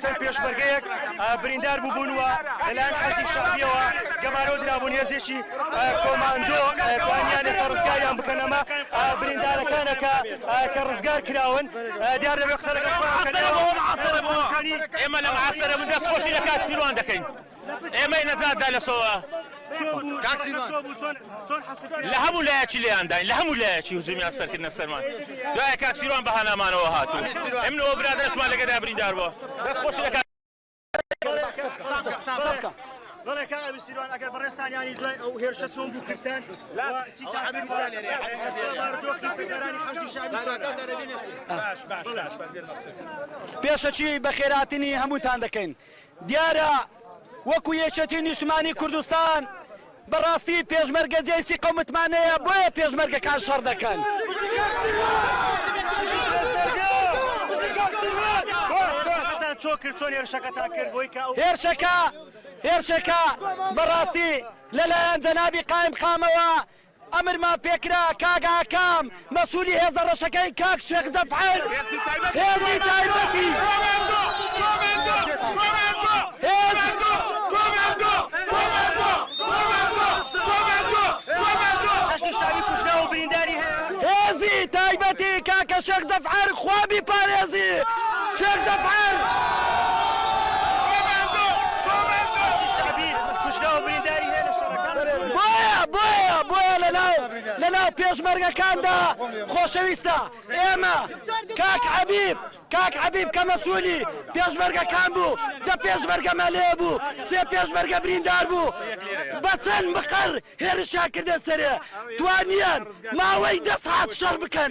چەند پێشمەرگەیەک بریندار بووبوون و لەلایەن حەشدی شەعبییەوە گەمارۆ درابوون، هێزێکی کۆماندۆ توانیانە سەر ڕزگاریان بکەن، ئەمە بریندارەکانە کە ڕزگار کراون. دیار نەبێ قسە لەگەڵ خۆیان بکەن. ئێمە لەم ئاسەرە دەستخۆشی لە کاک سیروان دەکەین. ئێمەی نەجات دا لە سۆوە چۆن بوو؟ کاک سیروان چۆن بوو؟ چۆن چۆن حەسر کرا؟ لە هەموو لایەکی لێیان داین لە هەموو لایەکی هجومیان سەر کردنە سەرمان دوایە کاک سیروان بە هانامانەوە هات و ئێمن و ئەو برادەرەشمان لە گەدا بریندار بووە دەست خۆشی لە کاک قسە بکە. بەڵێ کاک ئەمیر سیروان ئەگەر بەڕێزتان یانی دوای ئەو هێرشە چۆن بوو کردتان و چیتان ئەمیر کرد؟ سالێری. ئێستا بارودۆخی فێرانی حەشدی شەعبی چۆنە؟ باش باش باش باش بێرمە قسە پێشەکی بەخێرهاتنی هەمووتان دەکەین دیارە وەکو یەکێتی نیشتمانی کوردستان بەڕاستی پێشمەرگە جێسی قەومتمانەیە بۆیە پێشمەرگەکان شەڕ دەکەن. هێرشەکە هێرشەکە بەڕاستی لەلایەن جەنابی قائیمقامەوە ئەمرمان پێکرا کاک ئاکام مەسولی هێزە ڕەشەکەی کاک شێخ جەفعەر هێزی تایبەتی کۆماندۆ کۆماندۆ کۆماندۆ هێز کۆماندۆ کۆماندۆ کۆماندۆ کۆماندۆ کۆماندۆ هەشتی شاوی کوژراو و برینداری هەیە. هێزی تایبەتی کاکە شێخ جەفعەر خوا بیپارێزی شێخ جەفعەر. بۆیە بۆیە لەناو لەناو پێشمەرگەکاندا خۆشەویستە ئێمە کاک عەبیب کاک عەبیب کە مەسولی پێشمەرگەکان بوو دە پێشمەرگەمان لێ بوو سێ پێشمەرگە بریندار بوو بە چەند مقەر هێرشیان کردە سەرێ توانیان ماوەی دە سەعات شەڕ بکەن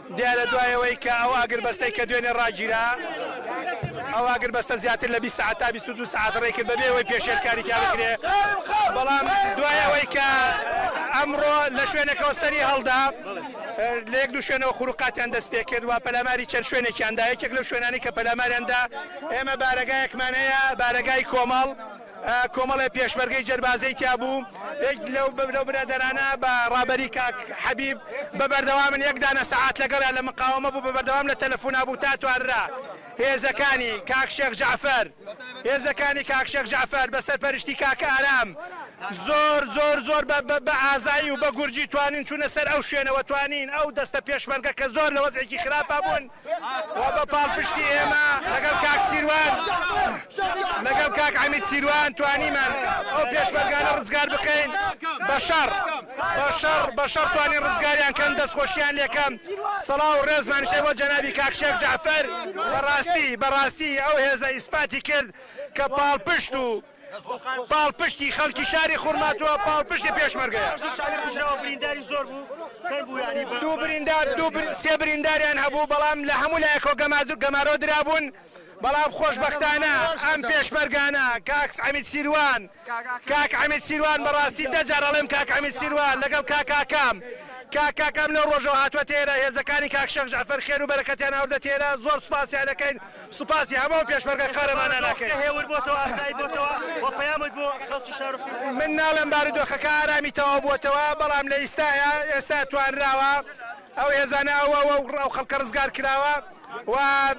دیارە دوای ئەوەی کە ئەو ئاگربەستەی کە دوێنێ ڕاگیرا، ئەو ئاگربەستە زیاتر لە بیست سەعات تا بیست و دوو سەعات ڕێی کرد بەبێ ئەوەی پێشێلکاری تیا بکرێ، بەڵام دوای ئەوەی کە ئەمڕۆ لە شوێنەکەوە سەری هەڵدا، لە یەک دوو شوێنەوە خروقاتیان دەست پێ کرد و پەلاماری چەند شوێنێکیان دا، یەکێک لەو شوێنانەی کە پەلاماریان دا ئێمە بارەگایەکمان هەیە، بارەگای کۆمەڵ، کۆمەڵێ پێشمەرگەی جەربازەی تیا بوو یەک لەو لەو برادەرانە بە ڕابەری کاک حەبیب بە بەردەوامن یەک دانە سەعات لەگەڵیان لە مقاوەمە بوو بە بەردەوام لە تەلەفونا بوو تا توانرا هێزەکانی کاک شێخ جەعفەر هێزەکانی کاک شێخ جەعفەر بە سەرپەرشتی کاک ئارام زۆر زۆر زۆر بە ئازایی و بە گورجی توانین چوونە سەر ئەو شوێنەوە توانین ئەو دەستە پێشمەرگە کە زۆر لە وەزعێکی خراپا بوون و بە پاڵپشتی ئێمە لەگەڵ کاک سیروان لەگەڵ کاک عەمید سیروان توانیمان ئەو پێشمەرگانە ڕزگار بکەین بە شەڕ بە شەڕ بە شەڕ توانین ڕزگاریان کەن دەستخۆشیان لێکەم سەڵاو و ڕێزمانشێ بۆ جەنابی کاک شێخ جەعفەر بەڕاستی بەڕاستی ئەو هێزە ئیسپاتی کرد کە پاڵپشت و پاڵپشتی خەڵکی شاری خورماتووە پاڵپشتی پێشمەرگەیە. دوو بریندار سێ برینداریان هەبوو بەڵام لە هەموو لایەکەوە گەمارۆ درابوون بەڵام خۆشبەختانە ئەم پێشمەرگانە کاک عەمید سیروان کاک عەمید سیروان بەڕاستی دە جار ئەڵێم کاک عەمید سیروان لەگەڵ کاک کاکام کاک کاکام لەو ڕۆژەوە هاتووە تێرە هێزەکانی کاک شێخ جەعفەر خێر و بەرەکەتیان ئەوردە تێرە زۆر سوپاسیان دەکەین. سوپاسی هەموو پێشمەرگە قارەمانان ئەکەین. ئێستا هێور بۆتەوە ئاسایی بۆتەوە و پەیامت بۆ خەڵکی شار و فیوم. من ناڵێم بارودۆخەکە ئارامی تەواو بۆتەوە بەڵام لە ئیستایا ئێستا توانراوە ئەو هێزانە ئەو ئەو ئەو ئەو خەڵکە ڕزگار کراوە و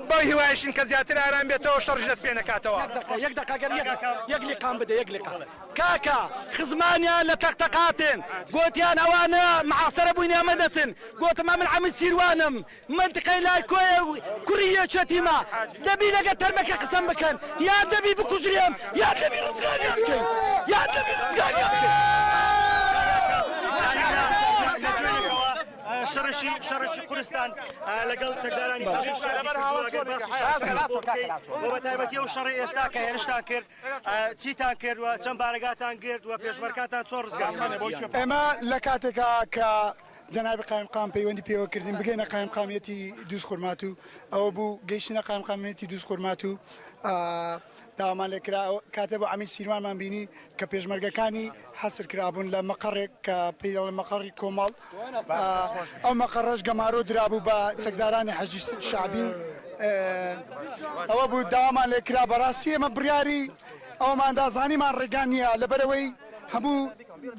بەو هیوایەشین کە زیاتر ئارام بێتەوە شەڕیش دەست پێ نەکاتەوە. یەک دەقە یەک دەقە گەر یەک یەک لیقام بدە یەک لیقام. کاکە خزمانیان لە تەق تەقاتێن گۆتیان ئەوانە معاسرە بووین ئێمە دەچن گۆتم ئەمن عەمەی سیروانم مەنتقەی لای کۆیە و کوڕی یەکێتیمە، دەبی لەگەر تەرمەکە قسەم بکەن یان دەبی بکوژرێم یان دەبی ڕزگاریان بکەین یان دەبی ڕزگاریان بکەین. ئێمە لە کاتێکا کە جەنابی قایمقام پەیوەندی پێوە کردین بگەینە قایمقامیەتی دووزخورماتو ئەوە بوو گەیشتینە قایمقامیەتی دووزخورماتو داوامان لێ کرا کاتێ بۆ عەمید سیروانمان بینی کە پێشمەرگەکانی حەسر کرابوون لە مەقەڕێک کە پێی دەڵێن مەقەڕی کۆمەڵ ئەو مەقەڕەش گەمارۆ درابوو بە چەکدارانی حەشدی شەعبی و ئەوە بوو داوامان لێ کرا بەڕاستی ئێمە بڕیاری ئەوماندا زانیمان ڕێگا نییە لەبەرەوەی هەموو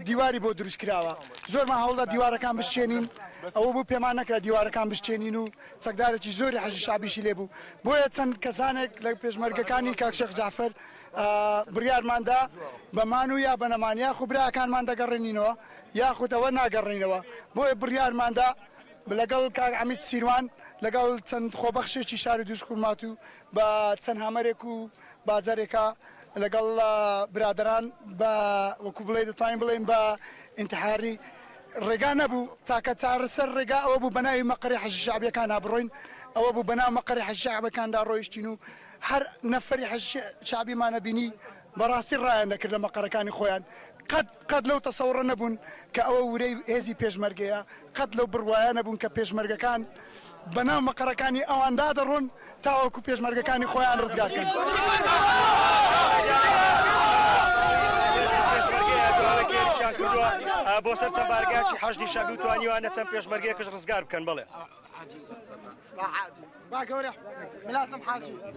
دیواری بۆ دروست کراوە زۆرمان هەوڵدا دیوارەکان بشکێنین ئەوە بوو پێمان نەکرا دیوارەکان بشکێنین و چەکدارێکی زۆری حەشدی شەعبیشی لێ بوو بۆیە چەند کەسانێک لە پێشمەرگەکانی کاک شێخ جەعفەر بڕیارمان دا بە مان و یا بە نەمان یاخو براکانمان دەگەڕێنینەوە یاخود ئەوە ناگەڕێینەوە بۆیە بڕیارمان دا لەگەڵ کاک عەمید سیروان لەگەڵ چەند خۆبەخشێکی شاری دووزخورماتوو بە چەند هامەرێک و با جارێکە لەگەڵ برادەران بە وەکو بڵێی دەتوانین بڵێین بە ئینتحاری ڕێگا نەبوو تاکە چارەسەر ڕێگا ئەوە بوو بەناوی مەقەری حەشی شەعبیەکانا بڕۆین ئەوە بوو بەناو مەقەری حەشی شەعبەکاندا ڕۆیشتین و هەر نەفەری حەشی شەعبیمانە بینی بەڕاستی ڕایان دەکرد لە مەقەرەکانی خۆیان قەت قەت لەو تەسەوڕە نەبوون کە ئەوە ورەی هێزی پێشمەرگەیە، قەت لەو بڕوایە نەبوون کە پێشمەرگەکان بەناو مەقەرەکانی ئەواندا دەڕۆن تاوەکو پێشمەرگەکانی خۆیان ڕزگار کەن.